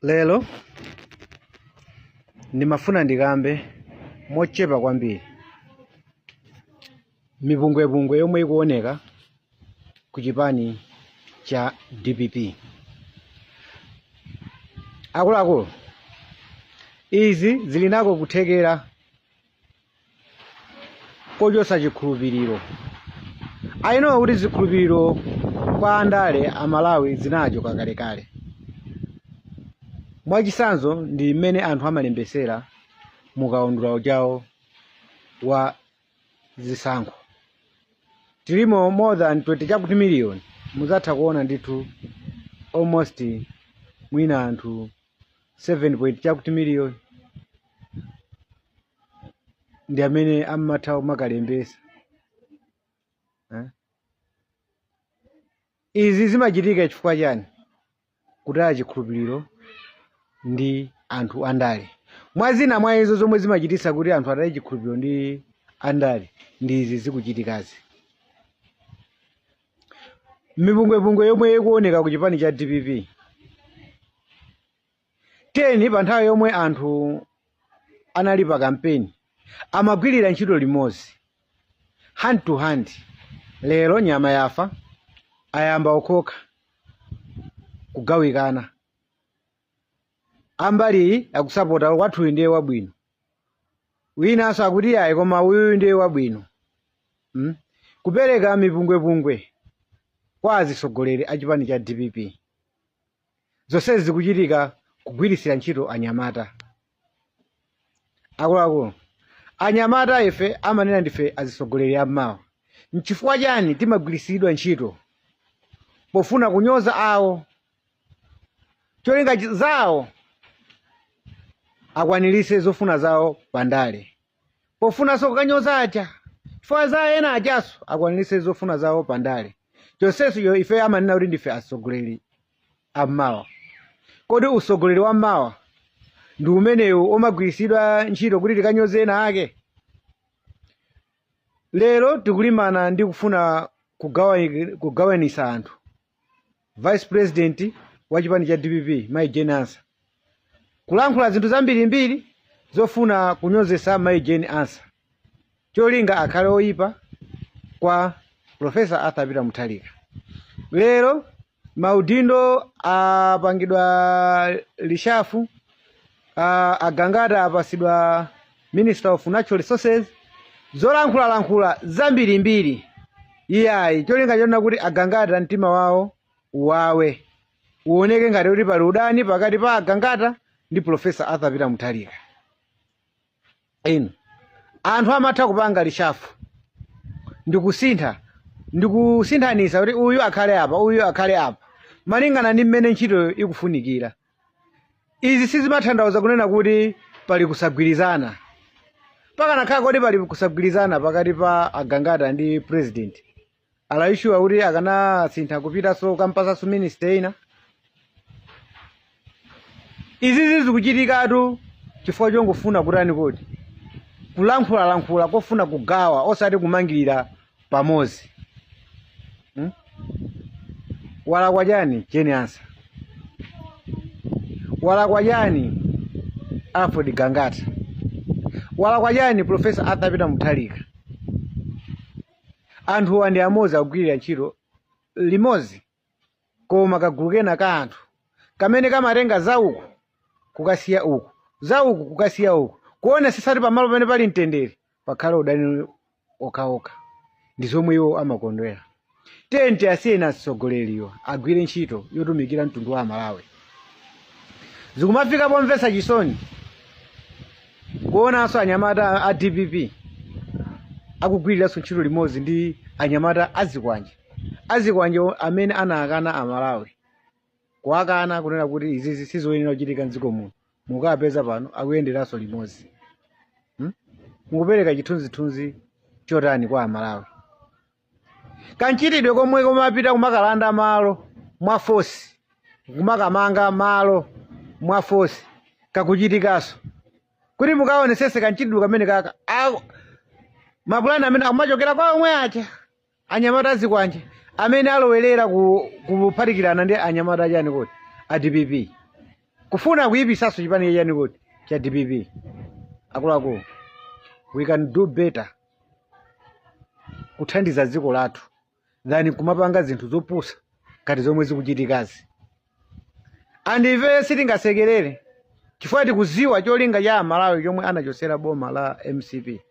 Lero ndimafuna ndikambe mochepa kwambiri mipungwepungwe yomwe ikuoneka ku chipani cha dpp akuluakulu izi zili nako kuthekera kochotsa chikhulupiriro ayi nowa kuti zikhulupiriro kwa andale amalawi zinachoka kalekale mwachitsanzo ndi mmene anthu amalembetsera mu kaundula ujawo wa zisankho tilimo more than 20 chakuti miliyoni muzatha kuona ndithu almost mwina anthu 7 point chakuti miliyoni ndi amene amatha kumakalembesa eh? izi zimachitika chifukwa chani kutaya chikhulupiriro ndi anthu andale mwa zina mwa izo zomwe zimachitisa kuti anthu ataye chikhulupiriro ndi andale ndi izi zikuchitikazi mipungwepungwe yomwe ikuoneka ku chipani cha dpp 10 pa nthawi yomwe anthu anali pa kampeni amagwirira ntchito limodzi hand to hand lero nyama yafa ayamba okhokha kugawikana ambali iyi akusapota wakwathuyu ndiye wabwino winanso akuti ayi koma uyuyu ndiye wabwino mm? kupereka mipungwepungwe kwa azitsogoleri a chipani cha dpp zonsezi zikuchitika kugwiritsira ntchito anyamata akuluakulu anyamata ife amanena ndife azisogoleri ammawa nchifukwa chani timagwirisidwa ntchito pofuna kunyoza awo cholinga chi- zawo akwanirise zofuna zawo pandale pofunanso kukanyoza aja chifukwa za ena ajaso akwaniritse zofuna zawo pa ndale chonsecho yo- ife amanena kuti ndife atsogoleri ammawa kodi utsogoleri wa mmawa ndi umenewu omagwiritsidwa ntchito kuti tikanyoze ena ake lero tikulimana ndi kufuna kugawa- kugawanisa anthu vice president wa chipani cha dpp mayi jane ansah kulankhula zinthu zambirimbiri zofuna kunyozesa mayi jane ansah cholinga akhale oyipa kwa profesa arthur peter mutharika lero maudindo apangidwa reshuffle uh, agangata apasidwa minister of natural resources zolankhulalankhula zambirimbiri iyayi cholinga choona kuti agangata mtima wawo uwawe uoneke ngati kuti pali udani pakati pa agangata ndi professor arthur peter mutharika inu anthu amatha kupanga reshuffle ndikusintha ndikusinthanisa kuti uyu akhale apa uyu akhale apa malingana ndi mmene ntchitoyo ikufunikira izi sizimatanthauza kunena kuti pali kusagwirizana pakanakhala kuti pali kusagwirizana pakati pa agangata ndi president are you sure kuti akanasintha kupitanso kukampasanso ministry ina izizi zikuchitikatu chifukwa chongofuna kutani kodi kulankhulalankhula kofuna kugawa osati kumangirira pamodzi hmm? walakwa chani jane ansah walakwa chani alfred gangata walakwa chani professor arthur peter mutharika Anthuwa ndi amodzi akugwirira ntchito limodzi koma kagulu kena ka anthu kamene kamatenga za uku kukasiya uku, za uku kukasiya uku, kuonetsetsa kuti pamalo pamene pali mtendere pakhale udani okhaokha. Ndi zomwe iwo amakondwera. Tiyeni tiasiyeni atsogoleriwa agwire ntchito yotumikira mtundu wa Amalawi. Zikumafika pomvetsa chisoni kuonanso anyamata a- a dpp akugwiriranso ntchito limodzi ndi anyamata azikwanje azikwanje o- amene anakana amalawi kuwakana kunena kuti izizi sizoyenera kuchitika mdziko muno mukapeza pano akuyenderanso limodzi Hmm? mukupereka chithunzithunzi chotani kwa amalawi kamchitidwe komwe komapita kumakalanda malo mwa force kumakamanga malo mwa force kakuchitikanso kuti mukaonesese kamchitidwe kamene kaka a- mapulani amene akumachokera kwa omwe aja anyamata azikwanje amene alowerera ku- kuphatikirana ndi anyamata achani kuti a dpp kufuna kuyipisanso chipani chachani kuti cha dpp akuluakulu we can do better kuthandiza dziko lathu than kumapanga zinthu zopusa ngati zomwe zikuchitikazi and ifeyo sitingasekerere chifukwa tikuziwa cholinga cha amalawi chomwe anachosera boma la mcp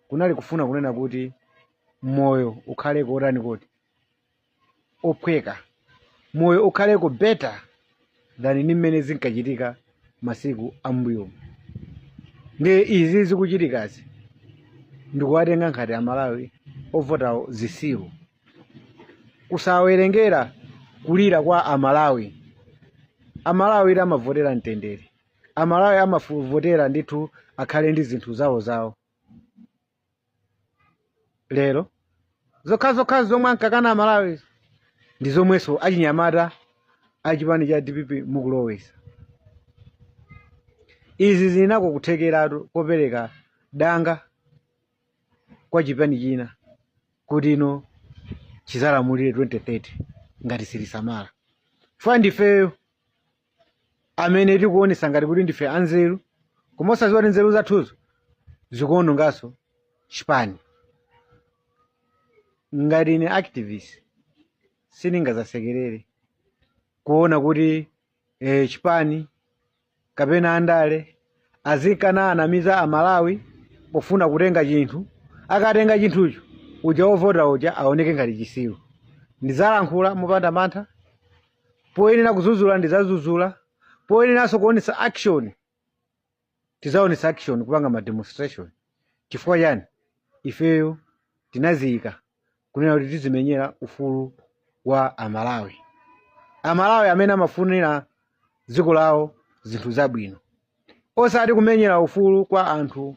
kunali kufuna kunena kuti moyo ukhale kotani kodi ophweka moyo ukhaleko better than ndi mmene zinkachitika masiku ambuyomu ndiye izi zikuchitikazi ndikuwatenga ngati amalawi ovotawo zisiru kusawerengera kulira kwa amalawi amalawi amavotera mtendere amalawi amavotera ndithu akhale ndi zinthu zawo zawo lero zokhazokha zomwe ankakana amalawi ndi zomwenso achinyamata a chipani cha dpp mukulowesa izi zina ndiko kuthekeratu kopereka danga kwa chipani china kuti ino chizalamulire 2030 ngati silisamala chifukwa ndifeyo amene tikuonesa ngati kuti ndife anzeru koma osaziwa kuti nzeru zathuzo zikuononganso chipani ngati ine activist siningazasekerere kuona kuti eh, chipani kapena andale azikananamiza a Malawi pofuna kutenga chinthu, akatenga chinthucho uja wovota uja aoneke ngati chisiru. Ndizalankhula mopanda mantha, poyenera kuzuzula ndizazuzula, poyeneranso kuonesa action tizaonesa action kupanga ma demonstration. Chifukwa chani? Ifeyo tinaziyika kunena kuti tizimenyera ufulu wa amalawi amalawi amene amafunira dziko lawo zinthu zabwino osati kumenyera ufulu kwa anthu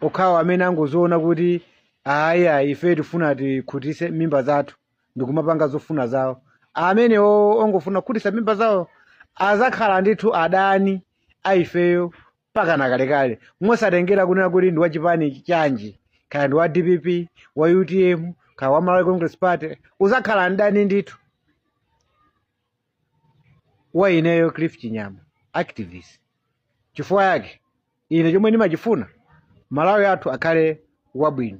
okhawo amene angoziona kuti ayi ayi ifeyo tifuna tikhutise mimba zathu ndikumapanga zofuna zawo amene o- ongofuna kukhutisa mimba zawo azakhala ndithu adani a ifeyo mpakana kalekale mosatengera kunena kuti ndi wachipani chanji kaya ndi wa dpp wa utm kaya wa malawi congress party uzakhala mdani ndithu wa ineyo cliff chinyama activist chifukwa yake ine chomwe ndimachifuna malawi athu akhale wabwino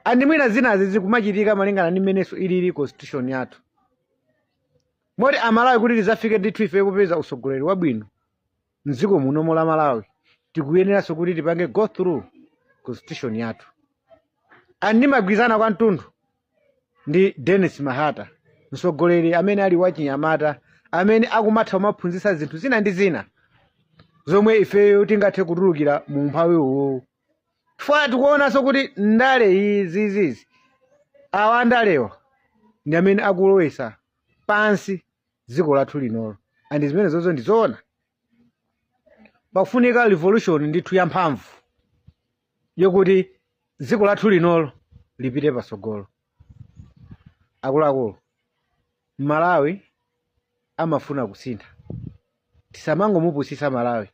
andi mwina zinazi zikumachitika malingana ndi mmenenso ilili constitution yathu moti amalawi kuti tizafike ndithu ife kupeza usogoleri wabwino mdziko munomo la malawi tikuyeneranso kuti tipange go through constitution yathu and ndimagwirizana kwathunthu ndi dennis mahata mtsogoleri amene ali wachinyamata amene akumatha kumaphunzitsa zinthu zina ndi zina zomwe ifeyo tingathe kutulukira mu umphawi uwuwu chifukwa tikuonanso kuti ndale izizizi awa andalewa ndi amene akulowesa pansi dziko lathu linolo ndi zimene zozo ndizoona pakufunika revolution ndithu yamphamvu yokuti dziko lathu linolo lipite patsogolo akuluakulu malawi amafuna kusintha tisamangomupusisa malawi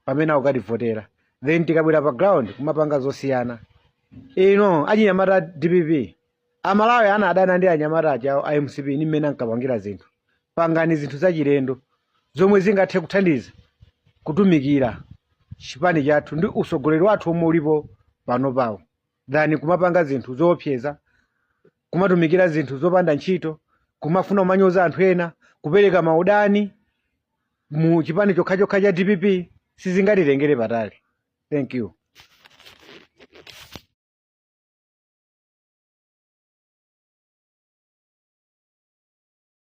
pamene akukativotera then tikabwera pa ground kumapanga zosiyana ino achinyamata dpp amalawi anadana ndi anyamata achawo a mcp ni mmene ankapangira zinthu pangani zinthu zachilendo zomwe zingathe kuthandiza kutumikira chipani chathu ndi usogoleri wathu omwe ulipo panopawo than kumapanga zinthu zoopseza kumatumikira zinthu zopanda ntchito kumafuna kumanyoza anthu ena kupereka maudani mu chipani chokhachokha cha dpp sizingatitengere patali thank you